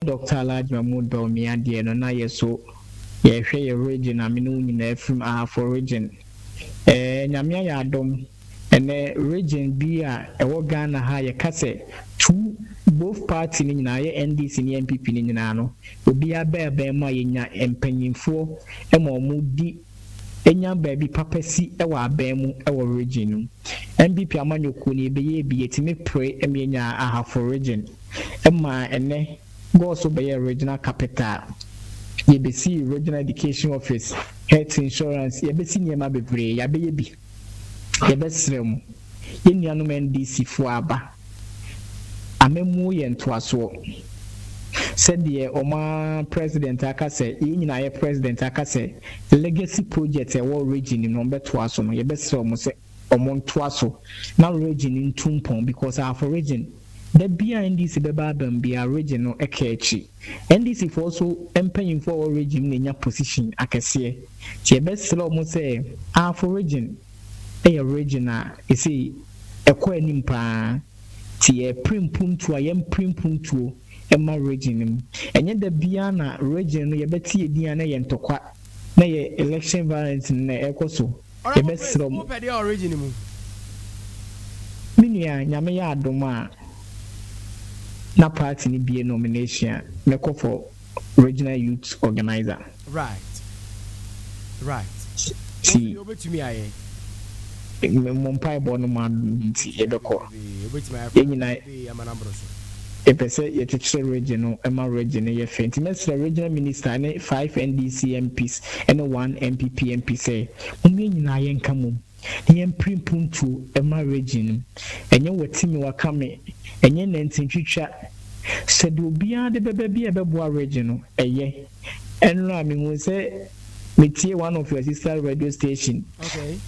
Doctor Largma mu dɔɔ me adeɛ no na yɛ so yɛ hwɛ yɛ region a me ne wo nyinaa firi mu Ahafo region ɛɛ Nyame ayɛ adom ɛnɛ region bi a ɛwɔ Ghana ha yɛ ka sɛ two both party no nyinaa yɛ NDC ne NPP no nyinaa no obiara bɛɛbɛn mu a yɛ nya mpanyinfoɔ ma ɔmo di enya baabi papa si wɔ aban mu wɔ region no mu. NPP amanyɔkuo no yɛbɛyɛɛ bi yɛtumi pere ma yɛnyaa Ahafo region maa ɛnnɛ kɔɔ so bɛyɛɛ regional capital, yɛbɛsii regional education office, health insurance, yɛabɛsi nneɛma bebree, yɛabɛyɛ bi. Yɛbɛsrɛ mo, yɛn nuanom NDC foɔ aba, amammuo yɛ ntoasoɔ. Sɛdeɛ wɔn ara President aka sɛ, yɛn nyinaa yɛ President aka sɛ legacy projects a ɛwɔ region no mu no wɔn bɛtoa so no, yɛbɛsrɛ wɔn sɛ wɔn ntoa so na region no ntu mpɔn because our for region, da biara NDC bɛba aba mu biara region no ɛka akyi. NDC foɔ so mpanyinfoɔ a wɔ region mu na nya position akɛseɛ nti yɛbɛsrɛ ɔmo sɛ Ahafo region yɛ region a ɛsei ɛkɔ anim paa nti yɛpre mpuntuo a yɛmpre mpuntuo mma region no mu ɛnyɛ da biaa na region no yɛbɛte yɛdin a na ɛyɛ ntɔkwa na ɛyɛ election violence no na ɛkɔ so. Yɛbɛsrɛ mo. Me nua nyame yɛ adom a na party no bie nomination a mɛkɔ for regional youth organiser. Ti mo mpaebɔ no ma adom nti yɛbɛkɔ yɛn nyinaa. Yɛpɛ sɛ yɛkyekyere regye no ma regye no yɛ fɛ nti mɛsrɛ Regional Minister ne five NDC MPs ne one NPP MP sɛ mom yɛn nyinaa yɛnka mom na yɛmpere mpuntuo mma regye no. Ɛnyɛ wati me waka me, ɛnyɛ nantintwitwa. Sɛdeɛ obiara de bɛba biara a ɛbɛboa regye no, ɛyɛ. Ɛno a mehu sɛ metie one of your sister radio station. Okay.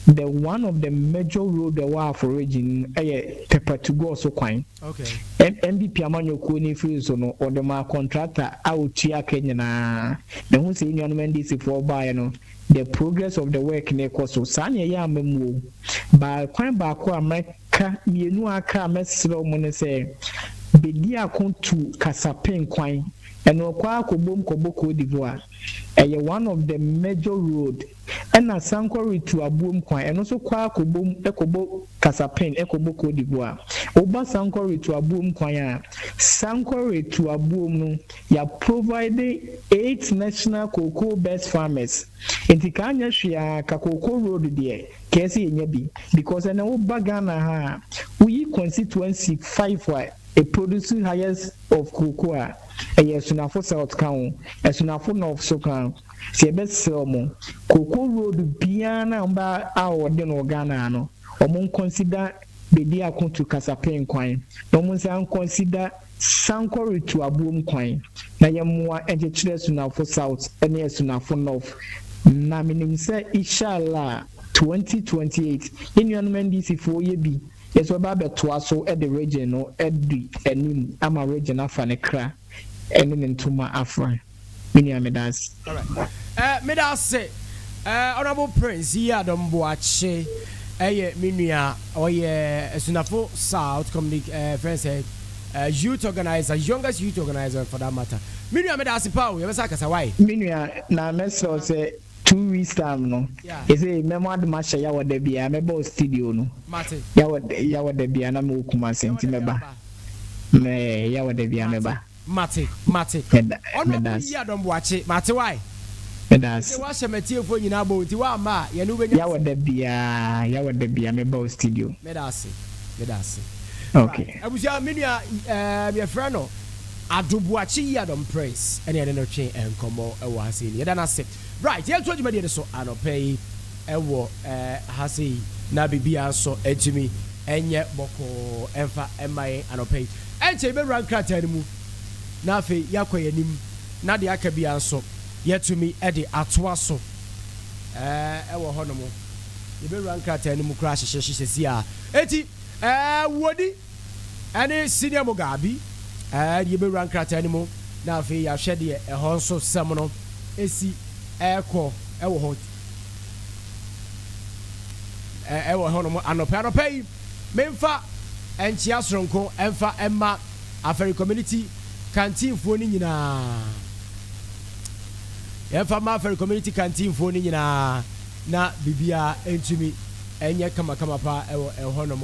The one of the major road ɛwɔ Afo region ɛyɛ Pɛpa to go so kwan. Okay. M MPP amanyɔkuo no firi so no wɔde maa contractor a ɔtua ka nyinaa. Mehu sɛ nnuanom NDC foɔ baeɛ no the progress of the work no kɔ so. Saa na ɛyɛ ama mu o. Ba kwan baako a mɛka mmienu a aka a mɛsrɛ wɔn ne sɛ bɛdi ako tu Kasapen kwan. Ɛna ɔkɔ ara kɔbom kɔbɔ Côte d'Ivoire. Ɛyɛ one of the major road. Ɛna san kɔ retu aboom kwan. Ɛno nso kɔ ara kɔbom kɔbɔ Kasapin kɔbɔ Côte d'Ivoire. Woba san kɔ retu aboom kwan a, san kɔ retu aboom no, yɛa provide eight national cocoa best farmers. Nti ka nyɛ hwee ara ka cocoa road deɛ, ka yɛ sɛ yɛnya bi. Because ɛnɛ woba Ghana ha a, woyi constituency five a ɛproduce highest. of Kroko a, ɛyɛ Asunafo South ka ho, Asunafo North nso ka ho. Sɛ yɛbɛsrɛ wɔn, Kroko Road biara no a wɔba a wɔde no wɔ Ghana ha no, wɔnconsider baabi a wɔtu kasapɛn kwan, na wɔnsan nconsider sankɔ retu aboom kwan, na yɛmmoa nkyekyere Asunafo South ne Asunafo North. Na menim sɛ, Ishallah, 2028, yɛn nuanom NDC foɔ yɛ bi. Yesu bɛba abɛtoa so de regye no adi anim ama regye no afa ne kra ne ne ntoma afra. Me nua meda ase. Meda ase Honourable Prince Yiadom Boakye yɛ me nua ɔyɛ Asunafo South Communic eh, friends eh, youth organizer youngest youth organizer for that matter me nua meda ase paa o yɛbɛsa akasa wae. Me nua na mɛsrɛ wo sɛ Two weeks time no yɛsɛ mɛ mo adom ahyɛ yawɔ da biaa mɛ ba ostidio no yawɔ yawɔ da biaa na mɛ wɔ kumase nti mɛ ba mɛ yawɔ da biaa mɛ ba Mate mate mɛda Honourable Yie Adom Boakye mate wae mɛda ase Mese wahyɛ matiefoɔ nyinaa bɔ nti wamma a yɛne wobɛnya yawɔ da biaa yawɔ da biaa mɛ ba ostidio. Mɛda ase mɛda ase Okay. Abusua me nua ɛɛm yɛfrɛ no. Adobuakye Yiadom Prince na yɛne no twe nkɔmmɔ wɔ ha sei no. Yɛda no ase. Right, yɛretoa dwumadie no so anɔpa yi wɔ ha sei na biribiara nso atumi ɛnyɛ bɔkɔɔ ɛmfa ɛma yɛn anɔpa yi. Ɛnkyɛ yɛbɛwura nkrataa no mu na afei yɛakɔ yɛn anim na deɛ aka biara nso yɛatumi de atoa so ɛwɔ hɔnom. Yɛbɛwura nkrataa no mu koraa hyehyɛhyehyɛ si a. Eti, ɛɛ, wodi. ɛne Senior Mugabi, ɛde yɛbɛwura nkrataa no mu na afei yɛahwɛ deɛ ɛhɔ nso sɛm no ɛsi ɛrekɔ ɛwɔ hɔ ɛwɔ hɔ nom anɔpɛ anɔpɛ yi memfa ɛnkyea soronko ɛmfa ɛma afɛre community kantinfoɔ no nyinaa yɛmfa ma afɛre community kantinfoɔ no nyinaa na biribiara ɛntumi ɛnyɛ kamakama paa ɛwɔ ɛhɔ nom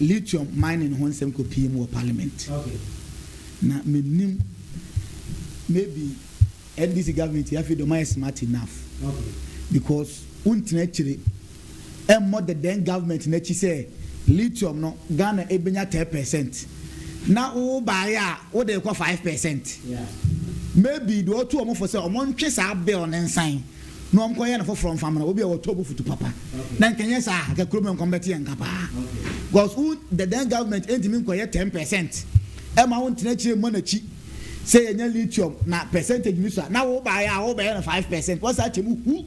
Lithium mining ho nsɛm kɔ pii mu wɔ parliament na mennim maybe NDC government yi afei deɛ ɔmayɛ smart enough because wontena akyire ɛmmɔ the then government no akyi sɛ lithium no Ghana ɛbɛnya 10 percent na wo baeɛ a wode rekɔ 5 percent maybe deɛ ɔtu wɔn fo sɛ wɔn ntwe saa bill no nsan na wɔnkɔyɛ no foforɔ mfa mmra, obi a wɔtɔ bo futu papa, na nka ɛnyɛ saa a nka kurom hɔ nkɔm bɛteɛ nka paa, because wo the then government ɛntumi nkɔyɛ ten percent ɛma wo ntena akyire mmɔ n'akyi sɛ yɛnya lithium na percentage no sua, na wo baeɛ a wo bɛyɛ no five percent, wɔsa akyɛ mu hu,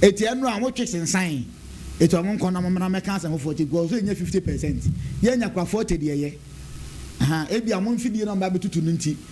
ɛti ɛno a wɔtwe sensan, ɛti wɔn nkɔ na wɔn mmra mɛka asɛm foforɔ ti because ɛnyɛ fifty percent, yɛnya kora forty deɛ yɛ, ɛha, ɛbi a wɔn mfidie na wɔn ba bɛtutu no nti.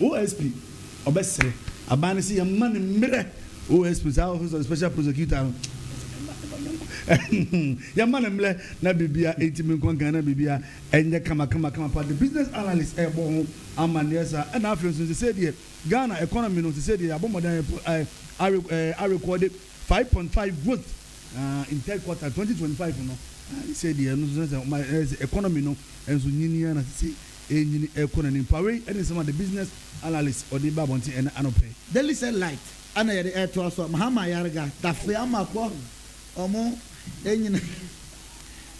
OSP ɔbɛsrɛ aban no sɛ yɛmma no mmerɛ OSP saa office of the special prosecutor no yɛmma no mmerɛ na biribia ɛntimi nkɔ nkan na biribia ɛnyɛ kama kama kama paa the business analyst ɛbɔ ho amanneɛ saa ɛna afei nso sesei deɛ Ghana economy no sesei deɛ yɛabɔ mmɔden arekɔde 5.5 growth in third quarter 2025 no sesei deɛ ɛno nso sɛ economy no nso nyini ara na sesei Enyin ɛrekɔ n'anim paa. Wei ne nsɛm a The Business Analyst ɔde baa abɔnten ɛnnɛ anɔpa yi. Daily Cell Light na yɛde ɛretoa so. Mahama Ayariga, Dafe Amakɔ, wɔn nyina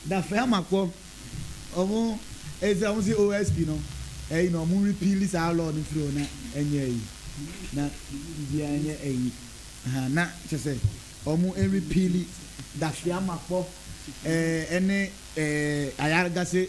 Dafe Amakɔ, wɔn ɛsɛ wɔn se OSP no, ɛyi no wɔn repeal saa law no firi hɔ na ɛnyɛ ɛyi, na biribiara nyɛ ɛyi, ahaa, na kyerɛ sɛ wɔn repeal Dafe Amakɔ ɛɛ ɛne ɛɛ Ayariga se.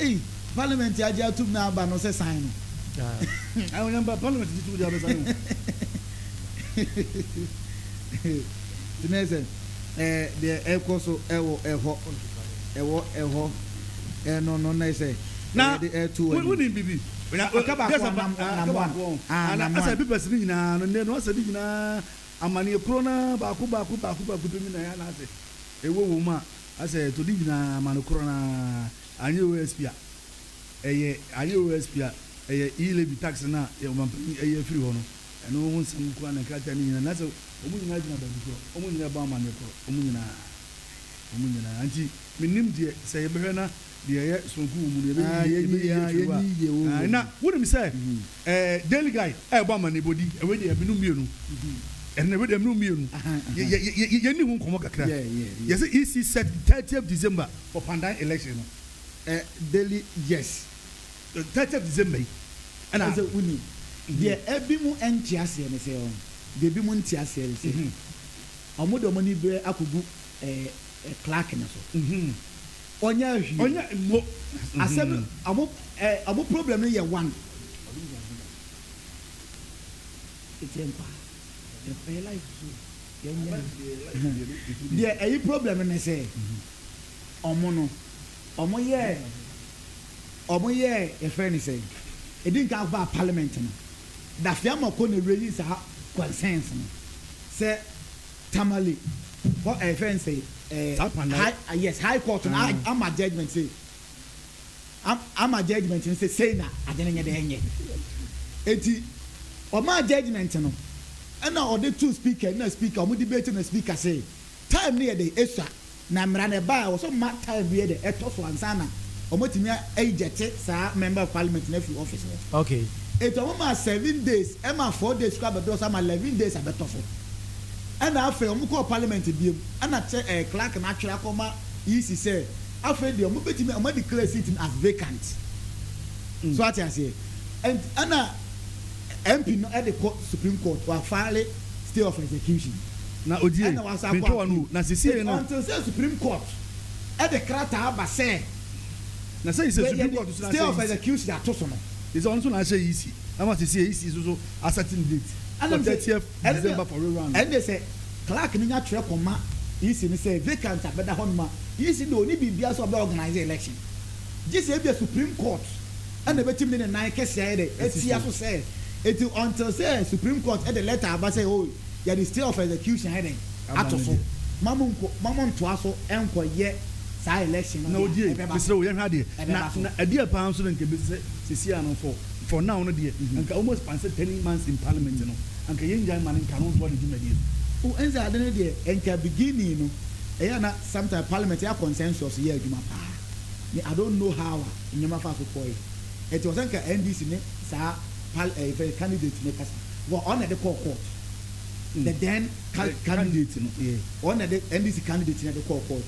Ei parliament agye atom na aba no sɛ san no. Ah. Awo nyamba parliament gye tum di abɛsa no. Tena sɛ eh deɛ ɛkɔ so ɛwɔ ɛhɔ ɛwɔ ɛhɔ eh no no na sɛ na de ɛto wani. Wuni bibi. Na ɔka baako a nam nam one. Ah nam one. Asa papers ni nyinaa no ne no asa ni nyinaa amaneɛ koro na baako baako baako baako bɛ nyinaa ya na ase ɛwɔ wɔn mu a. Asɛ to di nyinaa ma no korɔ no ara anyɛ OSP a ɛyɛ anyɛ OSP a ɛyɛ E levy tax no a yɛ ɔmanpanyin ayi afiri hɔ no ɛno ho nsɛm nko ara na nkrataa no nyinaa nasɛ wɔn nyinaa gyina baabi korɔ wɔn nyinaa bɔ amanneɛ korɔ wɔn nyinaa wɔn nyinaa nti mennim deɛ sɛ yɛbɛhwɛ na Deɛ ɛyɛ sononko wɔ mu no, yɛbɛyi yie, yɛbɛyi yie afiri hɔ a. Ae, na wonim sɛ ɛɛ Daily Guide ɛɛbɔ amanneɛbɔ di ɛwei deɛ ɛbinom mmienu, ɛnna ɛwei deɛ ɛbinom mmienu. Yɛ yɛ yɛ yɛ yɛnni ho nkɔmmɔ kakra. Yɛsɛ EC set the thirtieth December for pandan election no. Ɛ Daily yes. Thirtieth December yi ɛna. Ɛsɛ wonim deɛ ɛbinom nte aseɛ ne sɛ ɔn deɛ ɛbinom nte aseɛ ne sɛ wɔde wɔn ani bɛ akɔgu ɛɛ Clark no so. Ɔnyaa hwee. Ɔnyaa mmo. Asɛm no, ɔmo eh, ɔmo problem no yɛ one. Ɔno nyaa hwee da. Nti yɛn paa, ɛyɛ life so, yɛn nyaa. Life deɛ, life deɛ no, etu deɛ. Deɛ ɛyi problem no ne sɛ, ɔmo no, ɔmo yɛɛ, ɔmo yɛɛ, yɛfrɛ no sɛn, edi nkan ɔmo baa parliament no, Daffy Amarko na reyi saa concerns no, sɛ Tamale hɔ ɛɛ fɛn sɛ ɛɛ. Saa kwan na. High yes high court no ama judgement sɛ ama judgement no sɛ sei na ade no nyɛ dɛ nyɛ eti ɔmaa judgement no ɛna ɔde too speaker ɛna speaker ɔmo debate na speaker sɛ time no yɛ dɛ esua Na mmara no ɛbaa a wɔsɛ wɔma time bi yɛ dɛ ɛtɔ so ansa na wɔatumi a ejecte saa member of parliament no afiri office hɔ. Okay. Enti wɔmaa seven days ɛmaa four days koraa bɛdɔɔ so ama eleven days abɛtɔ so. Ɛna afei wɔkɔɔ parliament biom ɛna kyɛ ɛɛ clerk no atwerɛ akɔma EC sɛ afei deɛ wɔbɛtumi wɔn a declare seat no as vacant. So ate aseɛ? Ɛnt ɛna MP no ɛde kɔ supreme court wɔ a file. stay of execution, na ogyee Pintoa no wu, na sisiei no. Until sɛ Supreme Court de krataa ba sɛ. Na sɛ yisɛ Supreme Court nso na asɛ yisi. Stay of execution ato so no. Yisɛ ɔno nso na asɛ yisi, ama sisiei yisi nso so a setting date for thirtieth December for re-round. Ɛnneɛ sɛ clerk no nya twerɛ kɔma yisi no sɛ vacant abɛda hɔ nom a, yisi deɛ ɔnni biribiara sɛ ɔbɛ organise election, gye sɛ ebia Supreme Court. ɛna obetumi de ne nan kɛse ayɛ dɛ atia so sɛ enti until sɛ supreme court de letter aba sɛ oh yɛde stay of execution ayɛ dɛn ato so ma mo nko ma mo ntoa so nkɔ yɛ saa election no na odie ɛbɛba so yɛhwɛ adeɛ ɛbɛba so na ɛdeɛ paa nso na nka ebesi sɛ sisi a no for for now no deɛ nka wɔn span sɛ ten months in parliament no anka yɛn gyae ma no nka no ntoa ne dwumadie no. Oh ɛnsɛ ade no deɛ nka beginning no ɛyɛ a na sometime parliament yɛ consensus yɛ adwuma paa me I don't know how a. nneɛma faa so kɔɔe. Ɛte wɔ sɛ nka NDC ne saa pal ɛɛ fɛ candidate no kasa wɔ ɔn na ɛde kɔɔ court the then cal candidate no ɔn na ɛde NDC candidate no ɛde kɔɔ court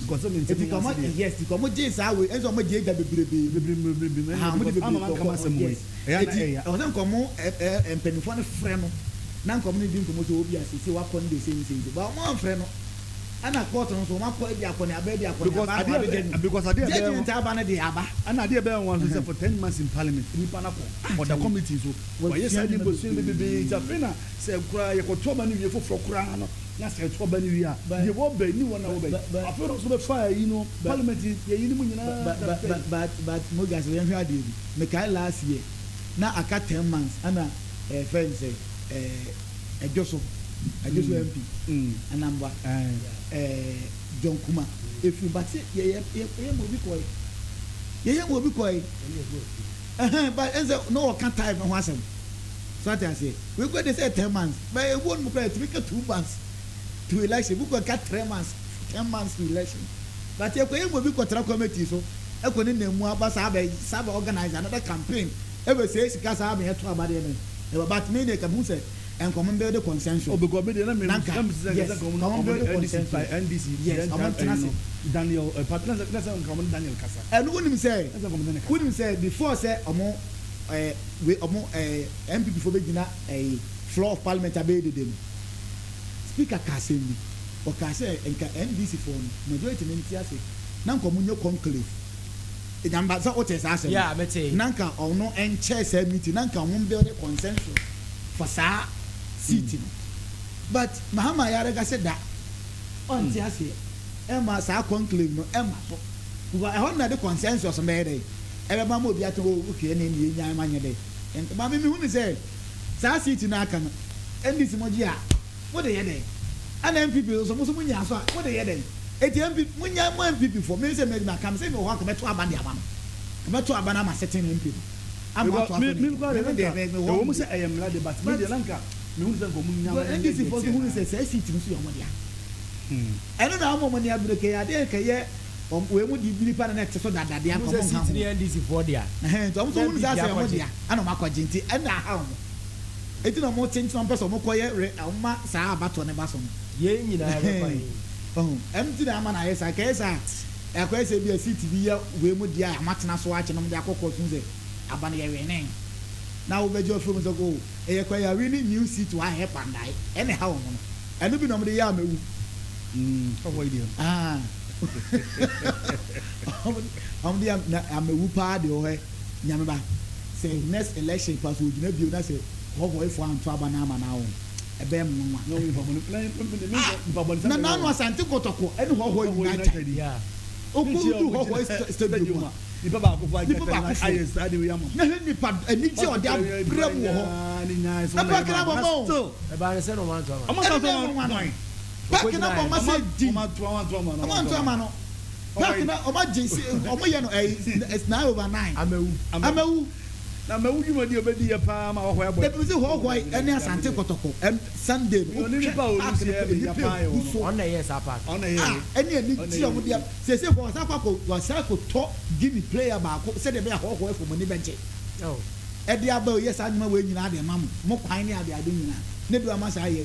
eti ka ɔmo yes ti ka ɔmo gyee saa wei ɛnso ɔmo gyee gya bebrebee mu aha ɔmo de bebrebee kɔɔ court yes eti ɛwɔ sɛ nka ɔmo ɛɛ mpanyinfoɔ no frɛ no na nka ɔmo ne di nkɔmɔ sɛ obi a sese wakɔ ne de sei ne sei ne sei but ɔmo anfrɛ no. ɛna court no nso wɔn akɔ adi akɔneaba adi akɔneaba akɔ abɛgya mu because adeɛ ɛbɛyɛ judgement aba no deɛ aba ɛna adeɛ ɛbɛyɛ nwa nso sɛ for ten months in parliament nipa no akɔ ah, ɔda committee so wɔyɛ saa ne bosua no bebree nti afei na sɛ koraa yɛkɔto aba no wie foforɔ koraa no na sɛ ɛto aba no wie a deɛ wɔbɛ ni wɔn na wɔbɛ afei na nso bɛfa ayi no parliament yɛyi no mu nyinaa but but mogya sɛ yɛnhwɛ adeɛ bi mekae last year na aka ten months ɛna ɛfɛ eh, nsɛ ɛɛ eh, Ɛdwoso Ɛdwoso MP Anambwa ɛɛ John Kuma efiri but sɛ yɛ yɛ yɛ yɛ mu obi kɔɛ yɛ yɛ mu obi kɔɛ ɛhɛn but ɛnsɛ na ɔka time ho asɛm so ate aseɛ wei kura de sɛ ten months but ebuo no mu kura etumi ka two months to election ebi kura ka three months ten months to election but yɛ kɔ yɛ mu obi kɔ tra committee so ɛkɔ ne nan mu aba saa bɛ saa bɛ organize another campaign. Ever say sika saa me ɛto aba deɛ me ɛba but me deɛ ka hu sɛ ɛn common build consensus. Oh because me deɛ na me na nka yes common build consensus yes ɔmo ntena se. Daniel eh pa na sɛ na sɛ nka ɔmo ne Daniel kasa. Ɛno wo nim sɛ wo nim sɛ before sɛ ɔmo eh we ɔmo eh NPP foɔ bɛ gyina eh floor of parliament abɛyɛ dede no speaker ka asɛm bi ɔka sɛ nka NDC foɔ no majority no nte ase na nka ɔmo nyɛ conclave. Agya mba, sɛ wotee saa asɛm no, na nka ɔno nkyɛɛ saa meeting, na nka hom build consensus for saa seat no. But Mahama yare kɛse da, ɔnntse aseɛ, mma saa conclave no mma so, because hɔ no na yɛde consensus no bɛyɛ dɛ, ɛbɛba ma obi aka o okay ɛnna emi yɛnyae ma nyɛ dɛ. Maame, mehu no sɛ saa seat no a aka no, NDC mo gye a, Mo de yɛ dɛn? Ɛna NPP no nso mo nso mo nyaa so a mo de yɛ dɛn? Enti MP mo nya mo NPP foɔ me sɛ mɛdi maka me sɛ me wɔ hɔ a kɛ mɛto aba de ama no kɛ mɛto aba no ama sete no MP no ama wɔato aso ne adwuma na me deɛ mɛ me wɔ hɔ but but NDC foɔ nso hunu sɛ saa seat no nso yɛ wɔn dea ɛno na ama wɔn ani abere kɛ adeɛ nka yɛ wɔn wei mo deɛ biripa na na ɛte so dada deɛ nka wɔn nka ho ɛhɛn nti wɔn nso hunu saa sɛ wɔn dea ɛna wɔn akɔgye nti ɛna aha wɔn. Enti na ɔmo kyenkyen, ɔmo pɛ sɛ ɔmo kɔ yɛ re, ɔmo ma saa abatoɔ no ba so no. Yei nyinaa bɛba he? Wahu? Ɛno nti na ama no ayɛ saa. Nkɛyɛ saa a, ɛakɔyɛ sɛ ebia seat bi yɛ wei mu deɛ a ɔmo atena so akyɛ na ɔmo de akɔ court mu sɛ aba no yɛ winee. Na wo bɛgye afiri ɔmo sɛ oh, ɛyɛ kwa yi a win new seat wɔ ha he pa ndae. Ɛna ɛhaw ɔmo no. Ɛno bi na ɔmo de yɛ amɛwu. Ahaa. Ɔmo de yɛ amɛwu paa deɛ wɔ hɔ ɛ. Nyame ba sɛ next election koraa sɛ ogyina bio na sɛ convoy foɔ anto aba na ama no awo ɛbɛyɛ me nwanwa. Ah! Na naanu Asante Kotoko ɛne Hɔhɔ nyinaa kyɛn. Ɔkɔ no du Hɔhɔ stadium a nipa baakofoɔ na hwɛ nipa anigye a ɔde abrɛ mu wɔ hɔ. Na park no abɔ ma o. Ɛbaa no sɛ na ɔmo anto ama no. Ɛne deɛ nwanwa no. Park no abɔ ma sɛ din. Ɔmo anto ama no. Dɔk na ɔma gye se ɔmo yɛ no ɛyi it's nine over nine. Amawu. Amawu. Na Amawu dwuma di obedi yɛ paa ma hɔhɔ ɛbɔ. Ebi se hɔhɔ yi ɛne Asante kɔtɔkɔ ɛn Sunday no wohwɛ park no kɔ nnipa egu so. Ɔno na ɛyɛɛ saa park no. Ɔno na ɛyɛɛ. Ah ɛne anigye a ɔmo de ab sese kɔ wasan akɔ akɔ wasan akɔ tɔ Guinea player baako sɛdeɛ ɛbɛyɛ a hɔhɔ ɛfo ɔmo ani bɛgye. Oh. Ɛde aba oyɛ saa nneɛma wei nyinaa de ɛma mo mo kwan ne ade ade nyinaa ne do ama saa yɛ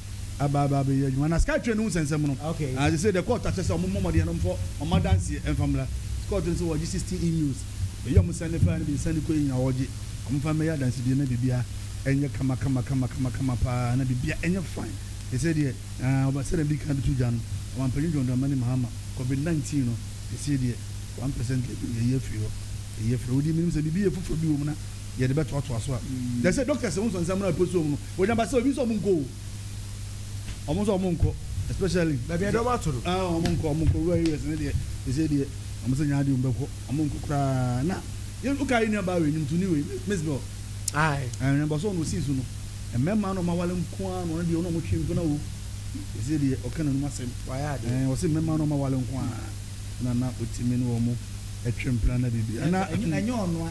aba aba abɛyɛ adwuma na sika twɛ no ho sɛnsɛm no okay and they say the court akyɛ sɛ ɔmo mmɔ mmɔden no mfɔ ɔmo adanseɛ ɛmfa mmra court no sɛ wɔgye sixteen emails ɛyɛ ɔmo sɛn ne faa no bi sɛn ne kɔ yɛ nyinaa wɔgye ɔmo mfa mmɛyɛ adansedie na bibia ɛnyɛ kama kama kama kama kama paa na bibia ɛnyɛ fine te sɛ deɛ ɛɛ ɔba sɛ na di kan de to gya no ɔmampanyin John Dramani Mahama covid nineteen no ɛsɛ deɛ one percent lady no yɛyi afiri hɔ yɛyi afiri hɔ wodi menim sɛ bibi yɛ foforɔ bi wɔ mu na yɛde bɛtoatoa so a yɛsɛ doctors ho nsɛnsɛm no a ɛpɔ so mu no Onyame sɛ obi nso ɔmo nkɔ o. Ɔmo nso ɔmo nkɔ especially. Baabi ɛdɔ ɔmo ato no. Ah ɔmo nkɔ ɔmo nkɔ rural areas ne deɛ ɛsɛ deɛ ɔmo sɛ nyaa deɛ ɔmo bɛkɔ ɔmo nkɔ koraa na yɛ oka yɛ nua baa wei nimtuni wei miss bell. Ayi. Ɛnna bɔsɔ ɔno osi so no mmarima na ɔmo awale nko ara na ɔno deɛ ɔno ɔmo twe mpena o ɛsɛ deɛ ɔka n'anum asɛm. Wayɛ adeɛ. Ɛn ɔsi mmarima na ɔmo awale nko ara na na otimi ne ɔmo ɛtwe mpena na bibi. Ɛna ɛnyɛ ɔnoa.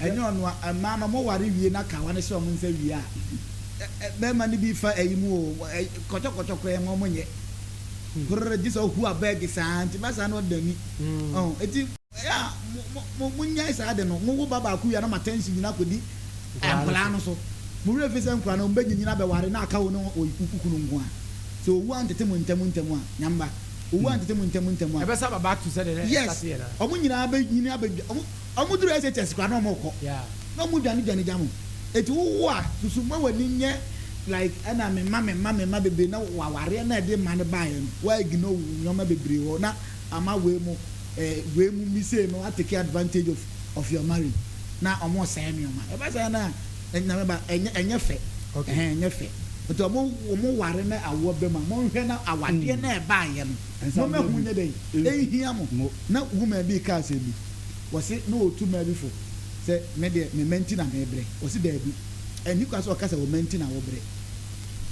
ɛnyɛ ɔno a, mmaa no wɔware wie na kawa no hyɛ wɔn nsa wie a, bɛrima no bi fa ayi mu o, kɔtɔkɔtɔ koraa mu wɔn nyɛ. Horror, gye sɛ ɔhu abɛɛge saa nti ba saa na ɔda ani. Ɔn, eti ɛyɛ a mo mo mo nyae saa ade no, mo wo ba baako wie a na mo attention nyinaa kɔdi nkwadaa no so. Mo werɛ mfi sɛ nkwadaa no wɔn bɛnyinyin abɛware na aka wo ne wo kunu nko a. Sɛ owu antete mo ntɛm ntɛm a, Nyamba, owu antete mo ntɛm ntɛm a. Ɛbɛsa aba back to sɛdeɛ na ɛstarteɛ no a. Yes, wɔn nyinaa bɛnyini abɛdwa, wɔn Ɔmo duru SHS koraa na ɔmo kɔ na ɔmo dwane dwane gya mo eti wo wo a susu ma w'ani nyɛ like ɛna me mma me mma me mma bebree na wo awareɛ na ɛde mma no baeɛ no wa ignore wo nneɛma bebree hɔ na ama wei mo eh, wei mo mi sei no a take advantage of of your marriage na ɔmo sɛɛ nneɛma ɛba saa na ɛnyame ba ɛnyɛ ɛnyɛ fɛ okay. ɛhɛn ɛnyɛ fɛ nti ɔmo ɔmo ware na awoɔ bɛ mu a monhwɛ na awadeɛ mm. na ɛbaeɛ no mo mɛ ho nyɛ dɛ ɛnhia mo na woman bi kaa sɛ bi wɔse na ɔretu mmaa bi fo sɛ me deɛ me mma nti na merebrɛ. Ɔse daabi, ɛnni kwan sɛ ɔka sɛ wo mma nti na wobrɛ.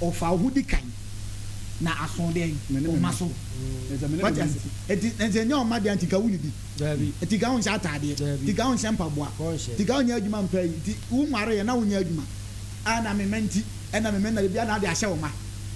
Ɔfa wo ho di kan na aso dɛn? Wo mma so. Wate ase? Nti sɛ ɛnyɛ wo mma dea nti nka wonnidi, nti nka wonhyɛ ataadeɛ, nti nka wonhyɛ mpaboa, nti nka wonyɛ adwuma mpa ayi, nti wonwareeɛ na wonyɛ adwuma. Ah na me mma nti, ɛna me mma na biribiara na wode ahyɛ wo mma.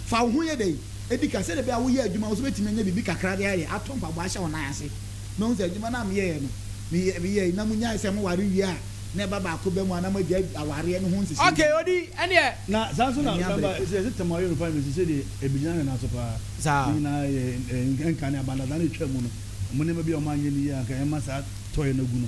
Fa wo ho yɛ dɛn? Di kan, sɛdeɛ ɛbɛyɛ a woyɛ adwuma nso wobɛtumi anya biribi kakra de ayɛ, atɔ mpaboa ahyɛ wo nan ase. Mahu sɛ adwuma no a meyɛeɛ no, meyɛ, meyɛe na monyae sɛ moware wie a, na ɛba baako ba mu a na moagyae awareɛ no ho nhyehyɛe Okay, nyinaa. odi ɛneɛ. Na saa nso na, Ɛnyɛ remember, abere pa. ɛsɛ, yɛse Tɛm a ɔyɛ no paa, mese sɛdeɛ ɛbɛgyina ne nan so paa, Saa. ne nyinaa yɛ, ɛɛ, nka ne abandadaa no ɛtwaa mu no, ɔmo nneɛma bi a ɔmo anyɛ no yie a anka ɛmma saa tɔeɛ no agu no.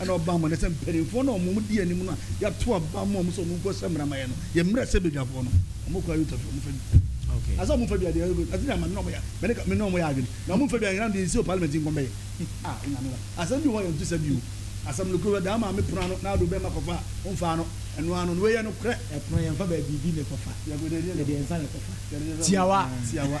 ɛna ɔba ama no sɛ mpanimfoɔ no a wɔn di anim no a yɛato aba ama wɔn sɛ wɔn nkɔ sɛ mmaramayɛ no yɛ mmerɛ sɛ badwafoɔ no wɔn kɔ ayota firi wɔn fa bi na sɛ wɔn fa bi adeɛ ɛyɛ ɛsɛ deɛ ama me na wɔn yɛ mene ka me na wɔn yɛ adwene na wɔn fa bi anyina deɛ nsi wɔ parliament nkɔm bɛyɛ a ɛnyame ba asɛm bi hɔ yɛn to sɛ bi o asɛm no kuro daa maame pono ano na ado bɛma kɔfa wɔn fa ano ɛno ano no wɔyɛ no korɛ ɛpono yɛn fa baabi bi na ɛkɔfa yɛkɔ deɛ deɛ nsa na ɛkɔfa tiawa tiawa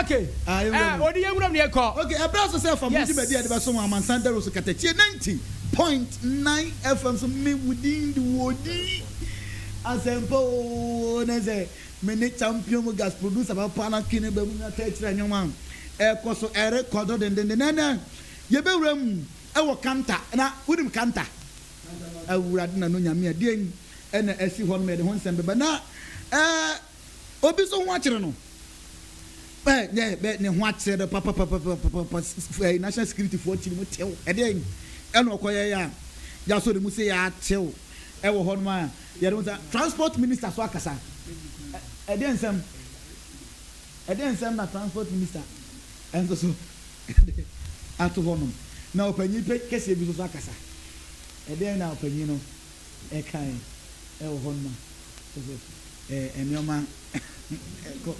Okay. Ah, yɛn wura mu. Eh, odi yɛn wura mu yɛn kɔ. Okay, ɛbrɛ so sɛ fa mo dwumadi a yɛde bɛso wɔn amansan dawuro so kata tie ninety point nine FM so me wo din de wo di asɛmpa oo na sɛ me ne champion mu gas producer papa na twi ne ba mu na tɛ kyerɛ nneɛma ɛkɔ so ɛrekɔ do dendenden na ɛnɛ yɛbɛwura mu ɛwɔ kanta na wonim kanta awurade na no nyame a deɛ ɛna ɛsi hɔ no ma yɛde ho nsɛm bɛba na ɛɛ. Obi nso ho akyere no. Ɛ dɛ bɛ ne ho akyerɛ no papapapapapa ɛ national security foɔ ti ne mu tew ɛdeɛn ɛna ɔkɔyɛ yɛ a yɛasɔ ne mu sɛ yɛatew ɛwɔ hɔ nom a yɛde ho sa transport minister so akasa ɛdeɛn nsɛm ɛdeɛn nsɛm na transport minister ɛnso so ato hɔ nom na ɔpanyin kɛseɛ bi nso so akasa ɛdeɛn na ɔpanyin no ɛkae ɛwɔ hɔ no ma sɛ ɛɛ nneɛma ɛkɔ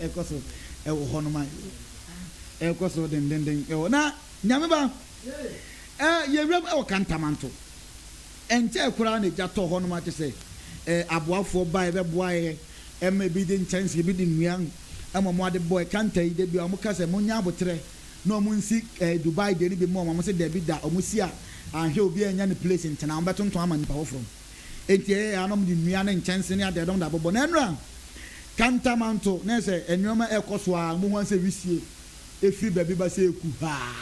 ɛkɔ so ɛwɔ hɔ no ma ɛkɔ so dendenden ɛwɔ na nyame ba ɛɛ yɛwuram ɛwɔ kantamanto ɛnkyɛ koraa na egya tɔ hɔ no ma kyɛ sɛ ɛɛ aboafoɔ ba ɛbɛboa yɛ ɛma ebi de nkyɛnse ebi de nnua ɛma wɔn ade bɔ ɛkanta yi de bi a wɔn ka sɛ mo nya abotrɛ. na ɔmo nsi ɛɛ Dubai deɛ no bi mma ɔmo, ɔmo se dabi da ɔmo si a anhwɛ a obiaa nnya ne place ntena, ɔmo bɛtontɔn ama nnipa foforɔ. Enti ɛyɛ a na ɔmo de nnua ne nkyɛnse ne adeade ɔmo de abobɔ na ɛno a Kantamanto na ɛsɛ nnoɔma ɛɛkɔ so aa, ɔmo hu ara sɛ wisie ɛfiri baabi ba sɛ ɛku haa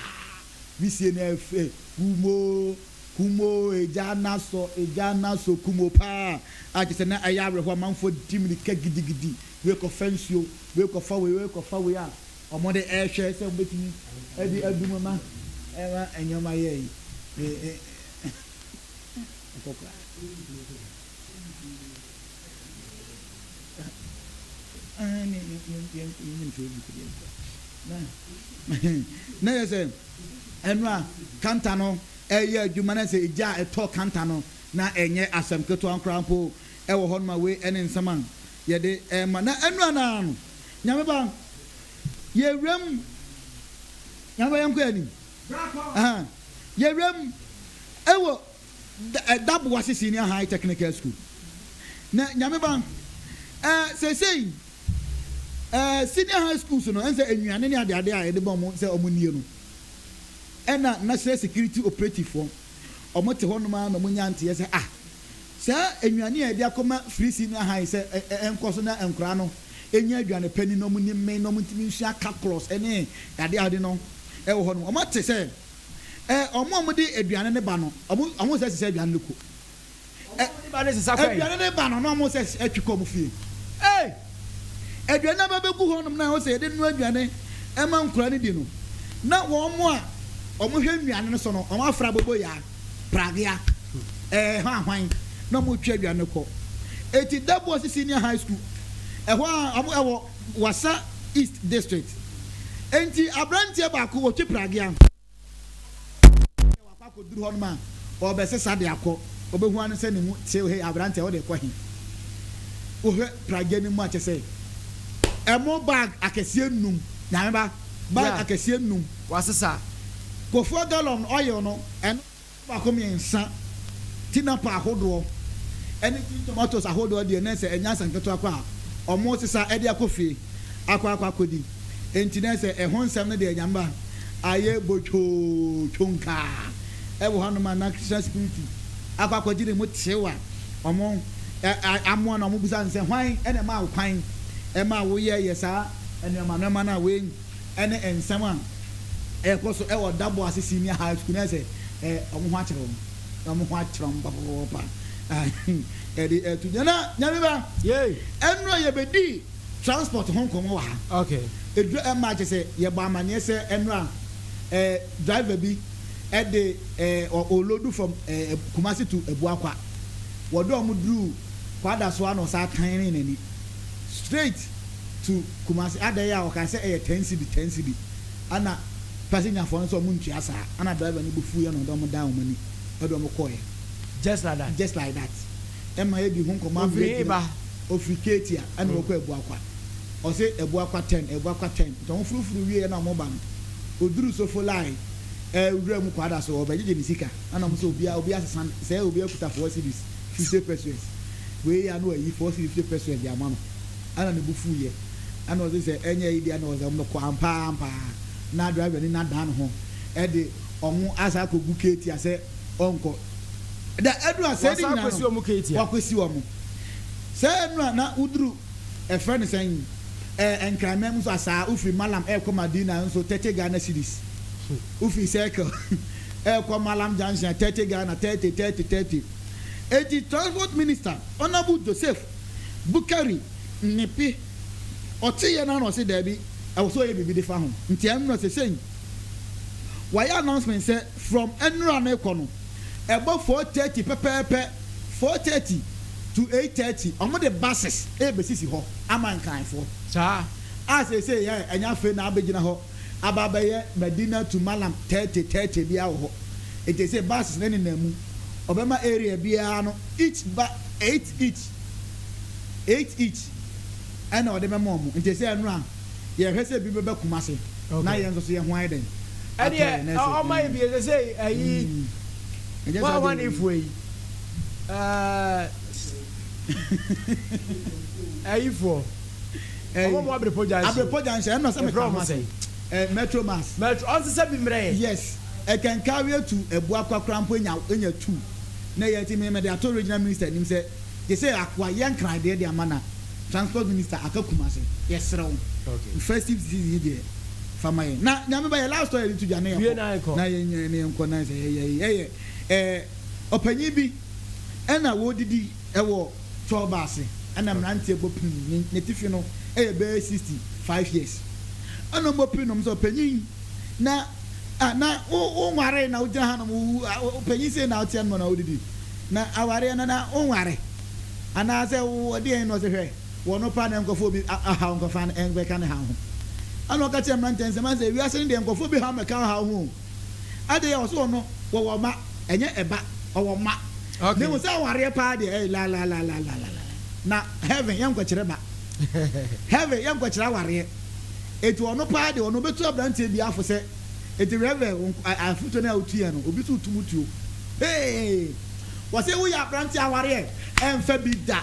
wisie no ɛɛfɛ kum oo kum oo egya no asɔ egya no asɔ kum oo paa a kyerɛ sɛ na ɛyɛ awerɛhoɔ amanfoɔ di mirika gidigidi wei kɔfa nsuo wei kɔfa wei wei kɔfa wei a wɔde rehwɛ sɛ wɔbɛtumi de adu mu ma ɛma nneɛma yɛ yi. na yɛ sɛ ɛno a kanta no ɛyɛ adwuma na sɛ egya a ɛtɔ kanta no na ɛnyɛ asɛm ketewa nkoraa mpo ɛwɔ hɔ no ma wei ɛne nsɛm a yɛde ɛma na ɛno anaa no Nyame ba, yɛwura mu. Nyame ba yɛnkɔ anim. Yɛwura mu ɛwɔ Daboa Sisi ne Ahai Technical School. Na Nyame ba, sɛsɛi senior high schools no, ɛnsɛ nnuane ne adeade a yɛde bɔ wɔn sɛ wɔn nie no, ɛna National Security Operativefoɔ, wɔn te hɔ nom ara na wɔnya nteɛ sɛ ah, Saa nnuane a yɛde akɔma Firisi no ahae sɛ ɛnkɔ so na nkwadaa no nya aduane pa ni na wɔnni mmee na wɔntumi nsua calculus ne adeade no wɔ hɔ no. Wɔate sɛ wɔn a wɔde aduane no ba no, wɔn nsa sisa aduane no ko. Aduane no ba no na wɔn nsa twe kɔ wɔn fie. Ei! Aduane no aba bɛgu hɔnom na ɛwɔ sɛ yɛde noa aduane ma nkwadaa no di no, na wɔn a wɔhwɛ nnuane no so no, wɔafra boboyaa. Pragya, Ɛɛ, ɛhɔ a hwan na wɔretwe awia no kɔ? Enti Dabuasi Senior High School, ɛhɔ a wɔn ɛwɔ Wassa East District. Enti aberanteɛ baako ɔtwe Pragya, wakɔ akɔduru hɔ nom a, ɔrebɛsesa de akɔ, ɔbɛhu ano sɛ ne mu tew, hei aberanteɛ wode rekɔ he? Wohwɛ Pragya no mu a kyɛ sɛ ɛmo bag akɛseɛ nnum, Nyame ba. bag akɛseɛ nnum. Wasesa kɔfoɔ gallon oil no, ɛno nso baako mmiɛnsa. Tinapa ahodoɔ ne tin tomatoes ahodoɔ deɛ na ɛsɛ ɛnyɛ asa nketewa koraa a wɔresesa de akɔ fie akɔ akɔ akɔdi. Enti na ɛsɛ ɛho nsɛm no deɛ Nyame ba ayɛ botwoo twonkaa. Ɛwɔ hɔnom a na Christian security akɔ akɔgye ne mu tew a wɔn amoa no a wɔbisa no sɛ, hwan na ɛmaa wo kwan ma woyɛɛyɛ saa? nneɛma nneɛma no a wɔanya ne nsɛm a ɛrekɔ so wɔ Dabo ase Senior High School no ayɛ sɛ wɔn ho akyere wɔn. Wɔn ho akyere wɔn papapapa. Ɛde ɛto dwa na nyame ba. Yay. Ɛnura yɛbɛdi transport ho nkɔmɔ wɔ ha. Okay. Ɛdura ɛma akyɛ sɛ yɛbɔ amaneɛ sɛ ɛnura eh, driver bi ɛde eh, olodu from eh, Kumasi to Abuakwa. Wɔde wɔn duru kwada so a na ɔsa tan ne n'ani. straight to Kumasi adɛn a ɔkaa sɛ ɛyɛ ten cedi ten cedi ɛna passengerfoɔ no sɛ ɔmo ntua saa ɛna driver no bo fuuiɛ na ɔde ɔmo dan ɔmo ani ɛde ɔmo kɔɔeɛ just like that just like that ɛma yɛdi ho nkɔmɔ ama yɛatumi ɔfiri eba ɔfiri Ketia ɛna ɔkɔ Abuakwa ɔse Abuakwa ten Abuakwa ten nti ɔmo furufuru wieɛ na ɔmo ba no ɔduru Sofolae ɛɛ wura mu kwaada so ɔbɛgyegye ne sika ɛna ɔmo sɛ obiara obiara sesa sɛ obiara kuta four cedis fifty pesewas wei yɛ a na wayi four cedi fifty pesewas de ama no ɛna ne bo fuu yɛ ɛna ɔse sɛ ɛnyɛ ayi deɛ na ɔsɛ ɔmo no kɔ ampaa ampaa na driver ni no adan ne ho ɛde ɔmo asa akɔ gu ketia sɛ ɔnkɔ da ɛnu a sɛ ne nyinaa no wakwesi ɔmo sɛ ɛnu a na woduru ɛfrɛ ne sɛn ɛɛ nkranman mu so asaa wofiri malam ɛɛkɔ madina nso thirty ghana cedis wofiri circle. ɛrekɔ Mallam junction a thirty Ghana thirty thirty thirty enti transport minister Honourable Joseph Boukary Nnipe ɔteeɛ no ara na ɔse daabi ɛwɔ sɛ ɔyɛ biribi de fa ho nti ɛno na sesei wayɛ announcement sɛ from nnora no rekɔ no ɛbɔ four thirty pɛpɛɛpɛ four thirty to eight thirty wɔn de buses ɛrebɛsisi hɔ ama Nkranfoɔ Saa a sesei ɛ ɛnyɛ afei na abɛgyina hɔ. aba abɛyɛ Madinah to Mallam thirty thirty biara wɔ hɔ. Enti ɛsɛ buses no nenam mu. Wɔbɛma area biara no each ba eight each, eight each ɛna wɔde bɛma wɔn. Enti ɛsɛ ɛno a yɛhwɛ sɛ bi bɛba Kumasi na yɛn nso so yɛn ho ayɛ dɛn? Atɔ yɛn na ɛsɛ. Ɛdeɛ ɔma yi bi ɛsɛ sɛ ayi ma ahwanefoɔ yi ɛɛ ayifoɔ. ɛyi ɔmo ɔmo abirepɔ gya nso abirepɔ gya nso ɛno sɛ mi ka ɔmo asɛm ɛɛ metro mass metro ɔnso sɛ bi mmerɛ yɛ yes ɛkɛnkɛ awie tu ɛbu akwa kora mpo enya enya tu na ɛyɛ ti mi mi de ato regional minister anim sɛ gyesɛ akoa yɛ nkran deɛ de ama na transport minister aka kumase yɛ serɛ wo okay festive season yi deɛ fa ma yɛ na nyame ba yɛ last ɔyɛ de tu gya na yɛ kɔ na yɛ nyɛ na yɛ nkɔ na yɛ sɛ yɛ yɛ yɛ yɛ ɛɛ ɔpanyin bi ɛna wɔdidi. Wɔ Tɔɔba ase na mmeranteɛ bɔ prim no, n'atifi no yɛ bɛyɛ sixty five years. Ɛna wɔbɔ prim nom sɛ ɔpanyin na ah na wo wonwaree na wogyina hanom wo ɔpanyin sei na woteɛ no na wodidi na awareɛ no na wonware anaasɛ wɔdeɛn na ɔsɛ hwɛ wɔ no pa na nkɔfoɔ bi ahaw nkɔfa no ɛnbɛka ne haw ho. Ɛna ɔka kyerɛ mmeranteɛ nsɛm sɛ wiase no deɛ nkɔfoɔ bi haw mɛka wo haw ho o. Adɛn ɔse ɔno wɔwɔ mma ɛnyɛ ɛba ɔwɔ mma na mmom sɛ awareɛ paa deɛ ɛyɛ lalalalala na heaven yɛnkɔkyerɛ ba heaven yɛnkɔkyerɛ awareɛ eti ɔno paa deɛ ɔno ɔbɛtu abranteɛ bi afo sɛ eti rɛvɛ afotuo no a wotuiɛ no obi so tum tuo hee wɔse woyɛ abranteɛ awareɛ ɛmfa bi da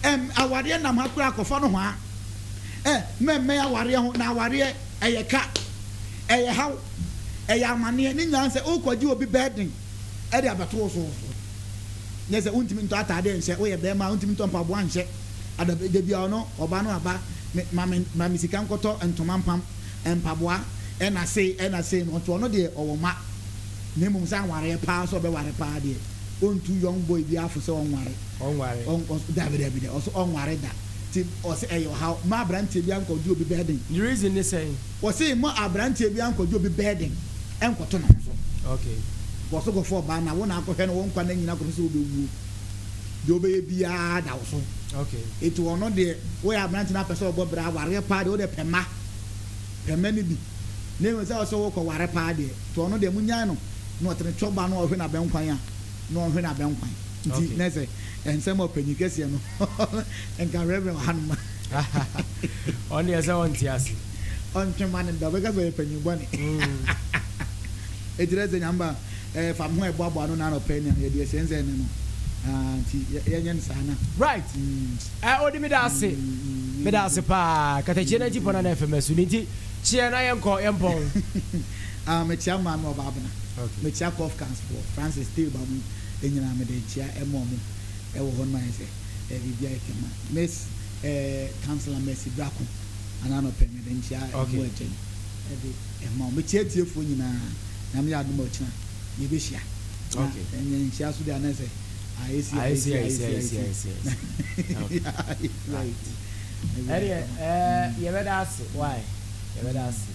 ɛm awareɛ nam ha koraa kɔfa no hɔ a ɛ mmɛmmɛn awareɛ ho na awareɛ ɛyɛ ka Ɛyɛ haw, ɛyɛ amaneɛ, ne nyinaa sɛ worekɔgye obi burden de abɛto wo so. Nyɛ sɛ wontumi ntɔ ataadeɛ nhyɛ, woyɛ barima a wontumi ntɔ mpaboa nhyɛ, adabi da biara ɔno ɔbaa no aba me ma me ma me sika nkɔtɔ ntoma mpam mpaboa ɛna sei ɛna sei no ɔnto ɔno deɛ ɔwɔ mma na mmom sɛ awareɛ paa sɛ ɔbɛware paa deɛ ɔntu young boy bi afo sɛ ɔnware ɔnware ɔn ɔs dabi dabi da ɔso ɔnware da ti ɔsɛ ɛyɛ ɔhaw ma aberanteɛ bi ankɔgye obi bɛɛden. Ne reason ne sɛn? Wɔse mma abranteɛ biara nkɔgye obi burden nkɔto ne ho so. Kɔ so kɔfa ɔbaa no a wo na akɔhwɛ no wo nkwa nna nyinaa kɔpɛ sɛ wobɛwuo. Deɛ wobɛyɛ biara da wo so. Nti ɔno deɛ woyɛ abrante na apɛ sɛ ɔbɔ bra awareɛ paa deɛ wode pɛ mma. Pɛ mma no bi. Na mmom sɛ ɔsɛ wokɔ ware paa deɛ nti ɔno deɛ monyae no na ɔtene twɛ ɔbaa no a ɔhwe no abɛnkwan a na ɔnhwe no abɛnkwan. Nti na sɛ nsɛm a ɔpanyin kɛseɛ no nka Rev. Wɔ hanom. Ɔno deɛ sɛ ɔnte ase. Ɔntwe ma no da, ɔbɛka sɛ ɔyɛ panyin bɔne. Ɛkyerɛ sɛ Nyame ba eh, fa me ho ɛboaboa ano na anɔpa ania yɛde ɛsɛnsɛn ne no ah, nti yɛnyɛ no saa na. Right. Mm. Eh, odi meda ase. Mm. Meda ase paa. Katakyie na ntipɔ na na ɛfɛ masu ne nti kyeɛ na yɛnkɔ yɛmpɔn. ah, mekyia maa me ɔbaa bena. Okay. Mekyia kɔf kansfoɔ Francis Tilba mu ɛnyinaa mede nkyia ɛmɔ mo ɛwɔ hɔ no ma yɛ sɛ. eh biribi ayɛ kama miss eh councilor mercy brako ana na ɔpɛ mede nkyia ɛmu ɛkyɛ no ɛde ɛma wɔn mekyia tiefoɔ nyinaa nyame yɛ adom ɔkyena yɛbɛhyia na ɛnyɛ nhyia so de anɛ sɛ ayɛsi ayɛsi ayɛsi ayɛsi ayɛsi ɛdeɛ yɛbɛda ase why yɛbɛda ase